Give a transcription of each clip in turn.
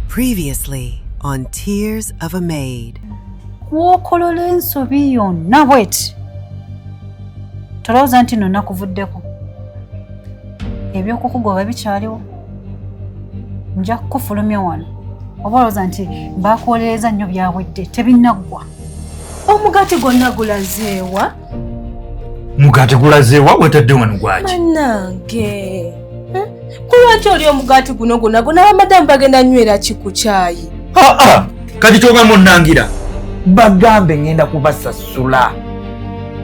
Previously on Tears of a Maid. Gwokolola ensobi yonna bweti. Tolowooza nti no nakuvuddeko. Ebyokukugoba bikyaliwo. Nja kukufulumya wano. Oba olowooza nti baakuwolereza nnyo byawedde tebinaggwa. Omugaati gwonna gulazeewa? mugati gulaze wa wetadde wano gwaki manange eh? kulwaki oli omugati guno gona gona bamadamu bagenda nywera ki ku kyayi aa kati kyogamba onangira bagambe ngenda kubasasula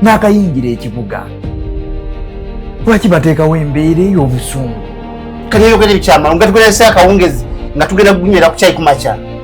n'akayingira ekibuga lwaki bateekawo embeera ey'obusungu kati eyogera ebikyamalo nga tugerese akawungezi nga tugenda kunywera ku kyayi ku makya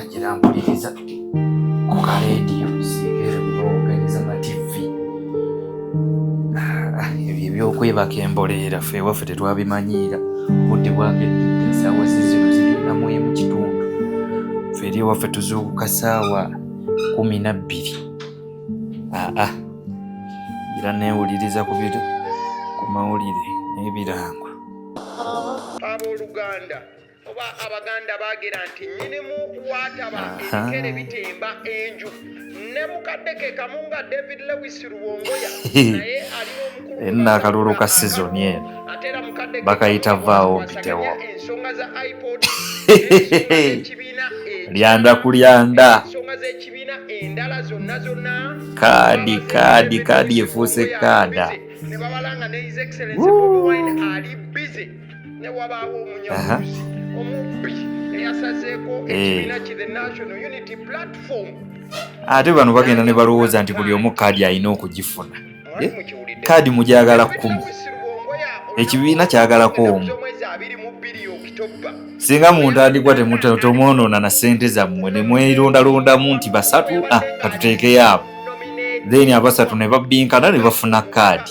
agira mpuliriza ku ka leediyo sibeere kubawoganiza mativi ah, ebyo ebyokwebaka emboleera fe ewaffe tetwabimanyiira obudde bwakedde esaawa zizino ziginamu emu kitundu fe eri ewaffe tuzuukuka saawa kumi na bbiri aa ah, ah. era neewuliriza ku biro ku mawulire n'ebirango abooluganda enna akalulu ka sizoni eno bakayita vaawo mpitewo lyanda ku lyanda kaadi kaadi kaadi efuuse kaada ne wabaawo omunyamuzi omubbi eyasazeeko eh. ekibiina ki the national unity platform ate bano bagenda ne balowooza nti buli omu kaadi alina okugifuna eh? kaadi mugyagala kkumi ekibiina kyagalako omu singa muntu andigwa temwonoona na ssente zammwe ne mwerondalondamu nti basatu ah, katuteekeyo abo then abasatu ne babbinkana ne bafuna kaadi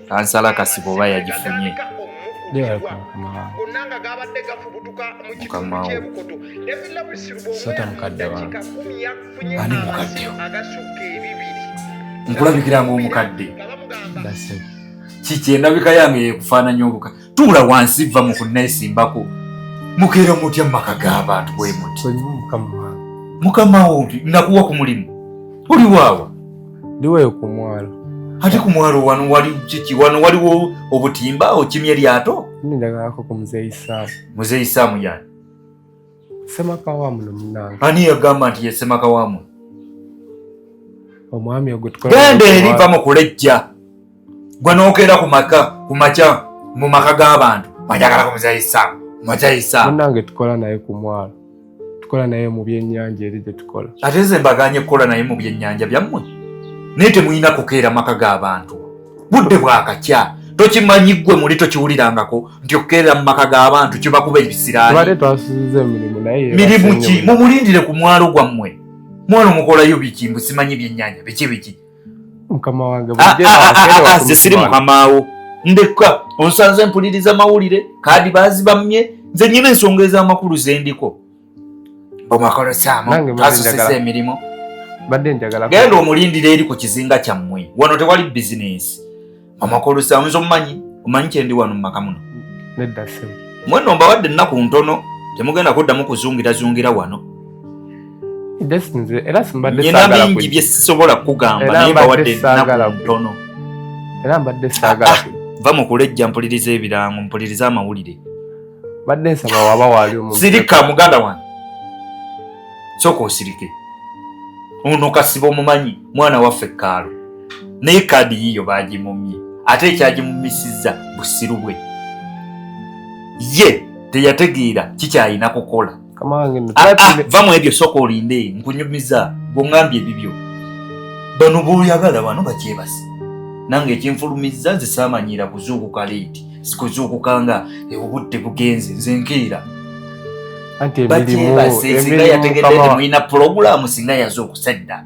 kansala kasiba oba yagifunye sota mukadde wange ani mukadde nkulabikira ngaomukadde kikyendabika yange yekufaananya obuka tuula wansi vva mu kunneesimbako mukeera mutya mu maka g'abantu bwe muti mukama wo nakuwa ku mulimu oli waawa ndiweyo ku mwalo ate ku mwalo wano wali kiki wano waliwo obutimba okimya eryato nindagalako ku muzeeyi saamu muzeeyi saamu yani semaka wa muno munange ani yagamba nti ye semaka wa muno omwami ogwo genda eri va mu kulejja gwe nokeera ku maka ku makya mu maka g'abantu mwajagala kumuzayisa mwajayisa munange tukola naye ku mwalo tukola naye mu byennyanja eri gye tukola ate nze mbaganye kukola naye mu byennyanja byammwe naye temulina kukeera maka g'abantu budde bwakakya tokimanyi ggwe muli tokiwulirangako nti okukeerera mu maka g'abantu kibakuba ebisiraanimirimu ki mumulindire ku mwalo gwammwe mwalo mukolayo biki mbusimanyi byennyanja biki biki mukama wange ah, ah, ah, nze siri mukamaawo ndekka onsanze mpuliriza mawulire kaadi baazibamye nze nyina ensonga ez'amakulu zendiko omakolosamuasosesa emirimu genda omulindira eri ku kizinga kyammwe wano tewali bizinensi Mama Kolusa nzo manyi, omanyi kyendi wano mu maka muno. Nedda sebo. Mwenno mbawadde nnaku ntono temugenda kuddamu kuzungira zungira wano. Just nze era simbadde sagala kuja. Nyina bingi bye sisobola kugamba naye mbawadde nnaku ntono. Era mbadde sagala kuja. Va mu kulejja mpuliriza ebirango, mpuliriza amawulire. Mbadde nsaba waba waali omuntu. Sirika muganda wange. Soko osirike. Ono kasibo mumanyi. mwana waffe kaalo naye kaadi yiyo baagimumye ate ekyagimumisiza busiru bwe ye teyategeera kikyalina kukola ah, ah, va mu ebyo sooka olinde nkunyumiza gweoŋambye ebibyo bano boyagala bano bakyebasi nange ekinfulumiza nze saamanyira kuzuukuka leeti sikuzuukuka nga obudde bugenze nze nkeera bakyebase singa yategeddee mulina pulogulaamu singa yaze okusadda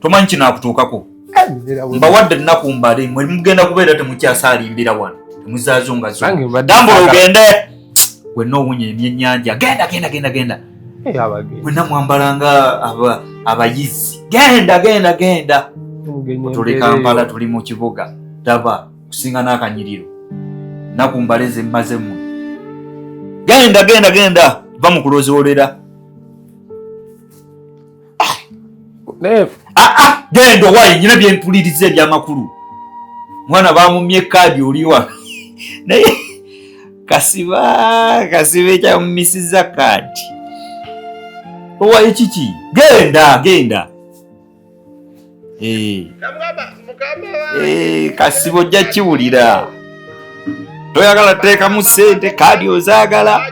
tomanyi kinakutuukako mbawadde ennaku mbale mwe mugenda kubeera temukyasaalimbira wano temuzaazo nga zotambula ogende wenna owunya emyenyanja genda genda genda genda wenna mwambala nga abayizi genda genda genda tuli kampala tuli mu kibuga daba kusinga n'akanyiriro naku mbale zemmazemu genda genda genda va mu kulozolera ah, ah, ah, genda owaye nyina byempuliriza ebyamakulu mwana bamumye ekaadi oliwa naye kasiba kasiba ekyamumisiza kaadi owaye kiki genda genda Eh. Eh, kasibo ojja kiwulira toyagala teekamu sente kaadi ozaagala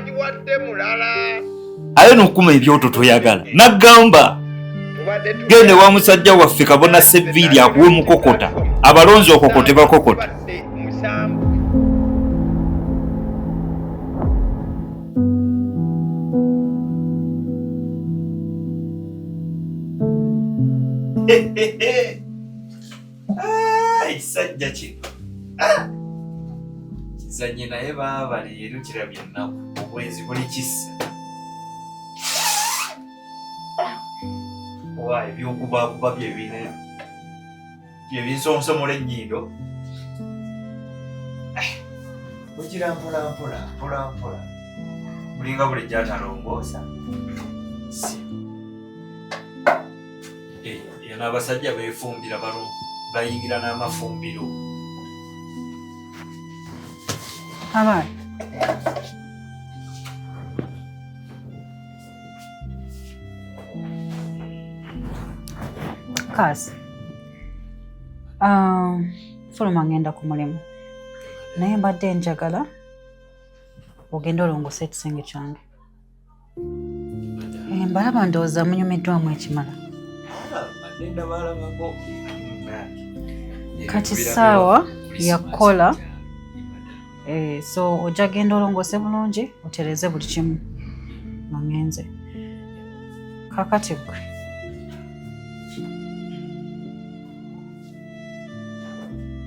aye nokuma ebyoto toyagala nagamba gende wa musajja waffe kabona seviiri akuwa omukokota abalonzi okokote bakokota Ah, ekisajja kino ah! kizanye naye baaba leero kirabye ennaku obwenzi buli kisa owa ebyokubakuba byebinene bye binsonsomola ennyindo eh, ogira mpolampola mpolampola mulinga buli gyatalongoosa eno eh, abasajja befumbira bano bayingira n'amafumbiro abaana Kaasi, ah, fuluma ngenda ku mulimu naye mbadde njagala ogenda olongosa ekisenge kyange mbalaba eh, ndowooza munyumiddwamu ekimala kati saawa yakukola Eh, so ojja genda olongoose bulungi otereeze buli kimu nangenze kakati gwe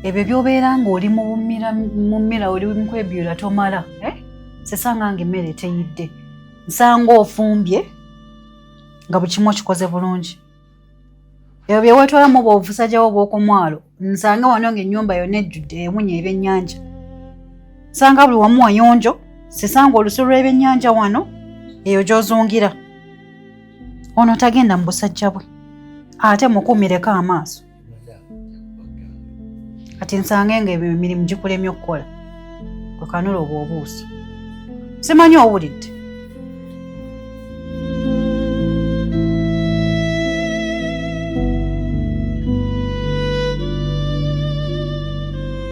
ebyo byobeera ng'oli mumira oli mukwebyula tomala eh? sesanga nga emmere teyidde nsanga ofumbye nga buli kimu okikoze bulungi ebyo bye weetwalamu oba obusajjawo obw'okumwalo nsange wano ng'ennyumba yonna ejjudde ewunya ebyennyanja nsanga buli wamu wayonjo sisanga olusu lw'ebyennyanja wano eyo gy'ozungira ono tagenda mu busajja bwe ate mukuumireko amaaso kati nsange nga ebyo emirimu gikulemye okukola kwekanula obwo obuuso simanyi owulidde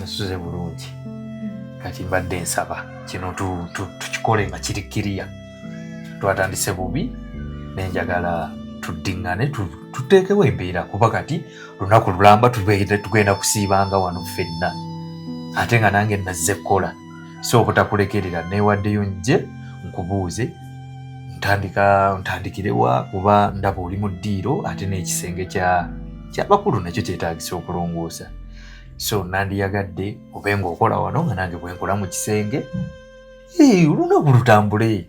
nasuze bulungi kati mbadde nsaba kino tukikole nga kiri kiriya twatandise bubi nenjagala tuddiŋŋane tuteekewo embeera kuba kati lunaku lulamba tugenda kusiibanga wano ffenna ate nga nange nazze kukola si obutakulekerera neewaddeyo nje nkubuuze ntandika ntandikirewa kuba ndaba oli mu ddiiro ate n'ekisenge kya kyabakulu nakyo kyetaagisa okulongoosa so nandiyagadde obe ngaokola wano nga nange bwenkola mu kisenge olunaku lutambule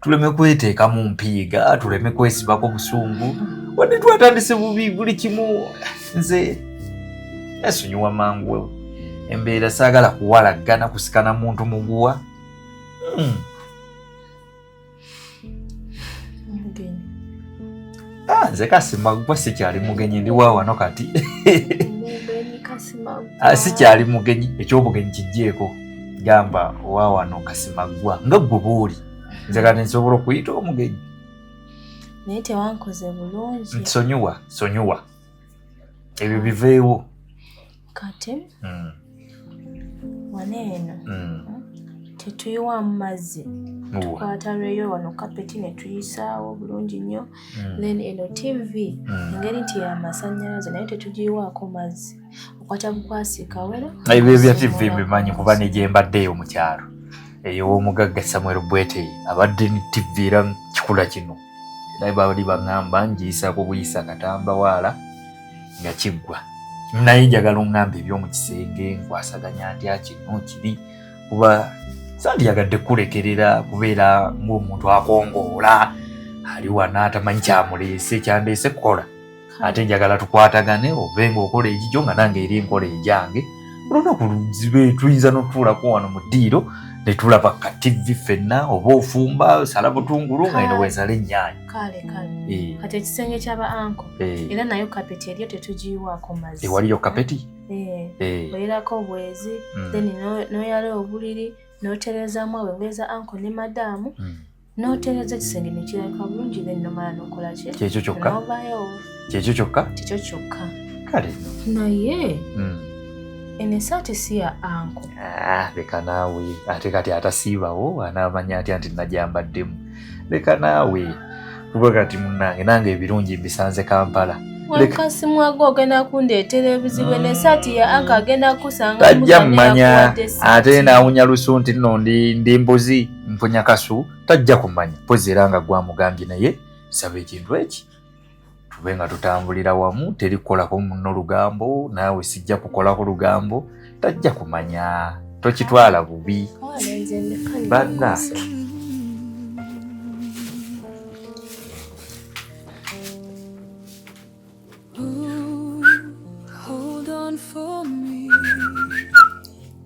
tuleme kweteeka mu mpiiga tuleme kwesibako busungu wadde twatandise bubi buli kimu nze esonyiwa mangu embeera saagala kuwalaggana kusikana muntu muguwa mm. Ah, nze kasimagwa sikyali mugenyi ndi wa wano kati ah, sikyali mugenyi ekyobugenyi kijjeeko gamba wa wano kasimagwa nga gwe buuli nze kati nsobola okuyita omugenyi naye tewankoze bulungi nsonyiwa sonyiwa ebyo biveewo kati mm. wano eno mm. tetuyiwamu mazzi tukwata lweyo wano kapeti netuyisaawo bulungi nnyo mm. then eno tv mm. engeri nti yamasanyalaze naye tetugiyiwaako mazzi okwata bukwasika wera ebyo bya tv mbimanyi kuba negyembadde eyo mukyalo eyowomugagga samuel bweteye abadde ni tv era kikula kino era bali baŋamba njiyisaako buyisa katamba waala nga kiggwa naye njagala oŋŋamba eby'omu kisenge nkwasaganya ndya kino kiri kuba sandiyagadde kukulekerera kubeera ng'omuntu akongoola ali wana atamanyi kyamuleese kyandeese kukola ate njagala tukwatagane ove ng'okola egigyo nga nange eri enkola egyange olunaku luzibe tuyinza n'otutuulako wano mu ddiiro ne tulaba ka ttivvi ffenna oba ofumba sala butungulu nga eno weesala ennyaanya kale kale eh. kati ekisenge kyaba anko eh. era nayo kapeti eriyo tetugiyiwaako mazzi ewaliyo eh, kapeti oyerako obwezi hmm. then noyala obuliri noterezamu abengeza anko ne madaamu hmm. notereza ekisenge nekirabika bulungi then nomala nokolaki kyekyo kyokka novayo kyekyo kyokka kyekyo kyokka kale naye hmm. eno esaati si ya anko ah, leka naawe ate kati atasiibawo anaamanya atya nti najambaddemu leka naawe kuba kati munange nange ebirungi mbisanze kampala wakasimwaga ogenda kundeetera ebizibu nesaati ya anka agenda kusanga tajja mumanya ate nawunya lusu nti no ndi mbuzi mpunya kasu tajja kumanya pozi era nga gwamugambye naye saba ekintu eki tube nga tutambulira wamu teri kukolako muno lugambo naawe sijja kukolako lugambo tajja kumanya tokitwala bubi banna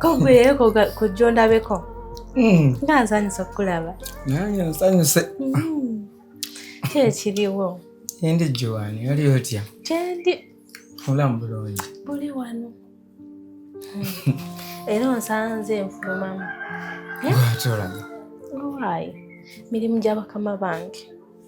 kogweyeko kujja ondabeko hmm. nga nsanyusa okukulaba nange nsanyuse hmm. kyekiriwo endi joani oli otya kyendi olamu bulungi buli wano hmm. era onsanze nfulumamu eh? atolaga owayi mirimu gyabakama bange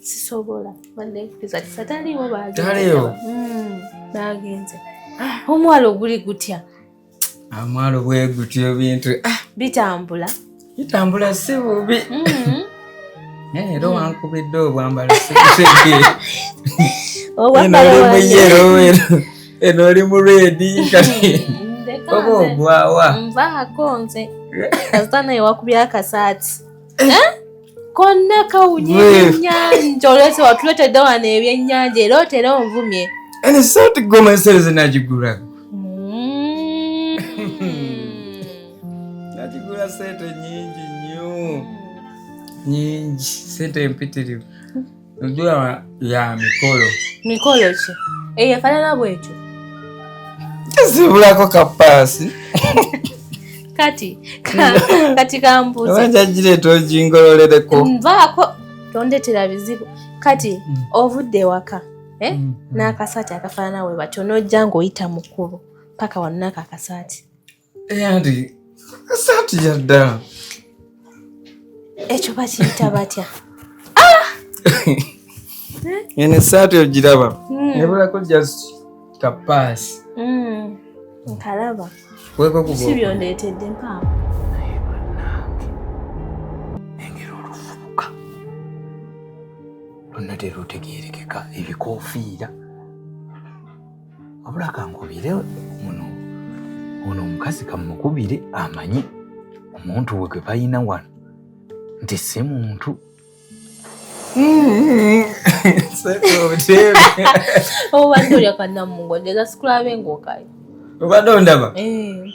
sisobola banekukiza kisa taliwo bagenze bagenze hmm, omwalo oguli gutya amwalo bwegutya ebintu ah! bitambula bitambula si bubi hmm. eh, era hmm. wankubidde obwambala sikutegere eno oli mu redi kati oba ogwawa nvaako nze kasita naye wakubya akasaati eh? eh? konna kawunya ebyennyanja olwese watuletedde wano ebyennyanja era otera onvumye ene saati goma ensereze nagigula mm. nagigula sente nyingi nnyo nyingi sente empitirivu Ndoa ya mikolo. Mikolo ki? Eyo efanana bwekyo. Zibulako kapasi. Kati kati kambuza. Wanja jire tojingololere ko. Mvako tondetera bizibu. Kati mm. ovudde waka. Eh? Mm. N'akasaati akafaanana we batyo n'ojja ng'oyita mukulu paka wano n'ako akasaati eyandi esaati yadda ekyo bakiyita batya ah! eno esaati ogiraba hmm. nebulako just kapaasi hmm. nkalaba si byondeetedde mpaamu lwonna terutegeerekeka ebikofiira wabula kankubire muno ono omukazi kamukubire amanyi omuntu we gwe balina wano nti si muntu obadde olya kanamungo njagala sikulabe ngaokayo obadde ondaba eh,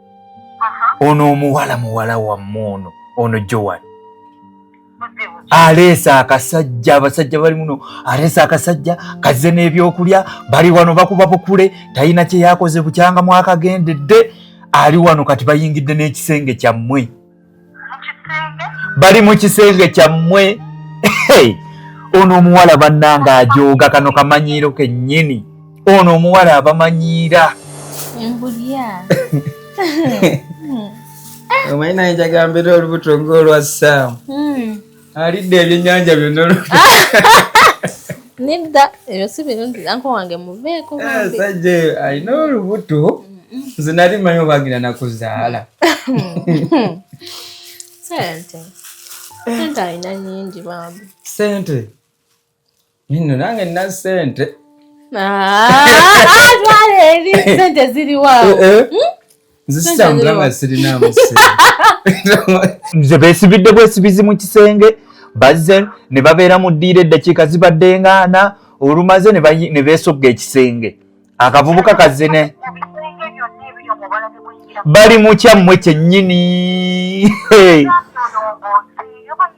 ono omuwala muwala wammwe ono ono joan aleesa akasajja abasajja bali muno aleesa akasajja kazze n'ebyokulya bali wano bakuba bukule talina kye yakoze bukyanga mwakagendedde ali wano kati bayingidde n'ekisenge kyammwe bali mu kisenge kyammwe ono omuwala bannanga ajooga kano kamanyiiro kennyini ono omuwala abamanyiira omanyi naye njagambera olubuto ng'olwa saamu hmm. alidde ebyennyanja byonna nedda ebyo si birungi anko wange muveeko eh, sajja eyo alina olubuto nze nali manyi obagina nakuzaala sente sente alina nyingi bambi sente Nino nange nna sente twaleeri ah, ah, sente ziriwaawo eh, eh. hmm? nzisitambula nga sirinamu nze besibidde bwesibizi mu kisenge bazze ne babeera mu ddiiro eddakiika zibadde ngaana olumaze ne beesogga ekisenge akavubuka kazze ne bali mukyammwe kyennyini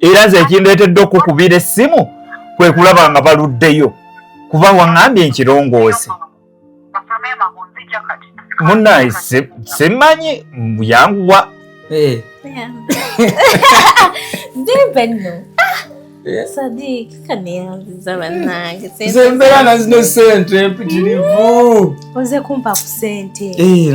era nze ekindeetedde okukubira essimu kwe kulaba nga baluddeyo kuba waŋambye nkirongoose munaye simanyi yanguwa eh. zembeera nazino sente mpitirivu oze kumpa ku sente eh,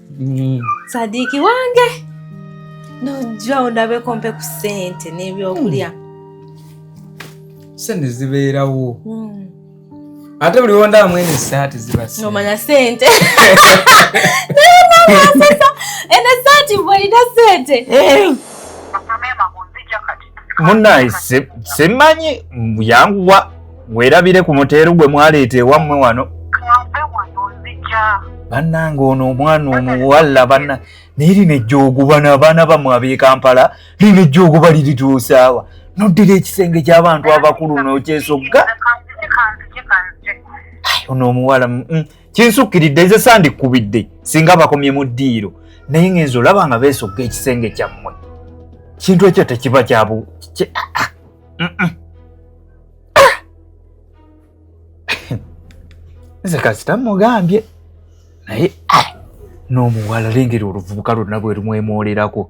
mm. sadiiki wange nojja ondabeko mpe ku sente n'ebyokulya mm. sente zibeerawo mm. ate buli wondaamu eno esaati zibaomanya sente naye eno esaati bwolina sente eh. munaye simanyi yanguwa werabire ku muteeru gwe mwaleeta ewammwe wano bannange ono omwana omuwalla banna naye lino ejjooguba n'abaana bamwe ab'ekampala lino ejjooguba lirituusaawa noddira ekisenge ky'abantu abakulu n'okyesogga ono omuwala mm, kinsukkiridde nze sandikkubidde singa bakomye mu ddiiro naye ngenza olaba nga beesogga ekisenge kyammwe kintu ekyo tekiba kyabu ah, ah, mm, mm. ah. nze kasita mugambye naye n'omuwala lengera oluvubuka lwonna bwe lumwemoolerako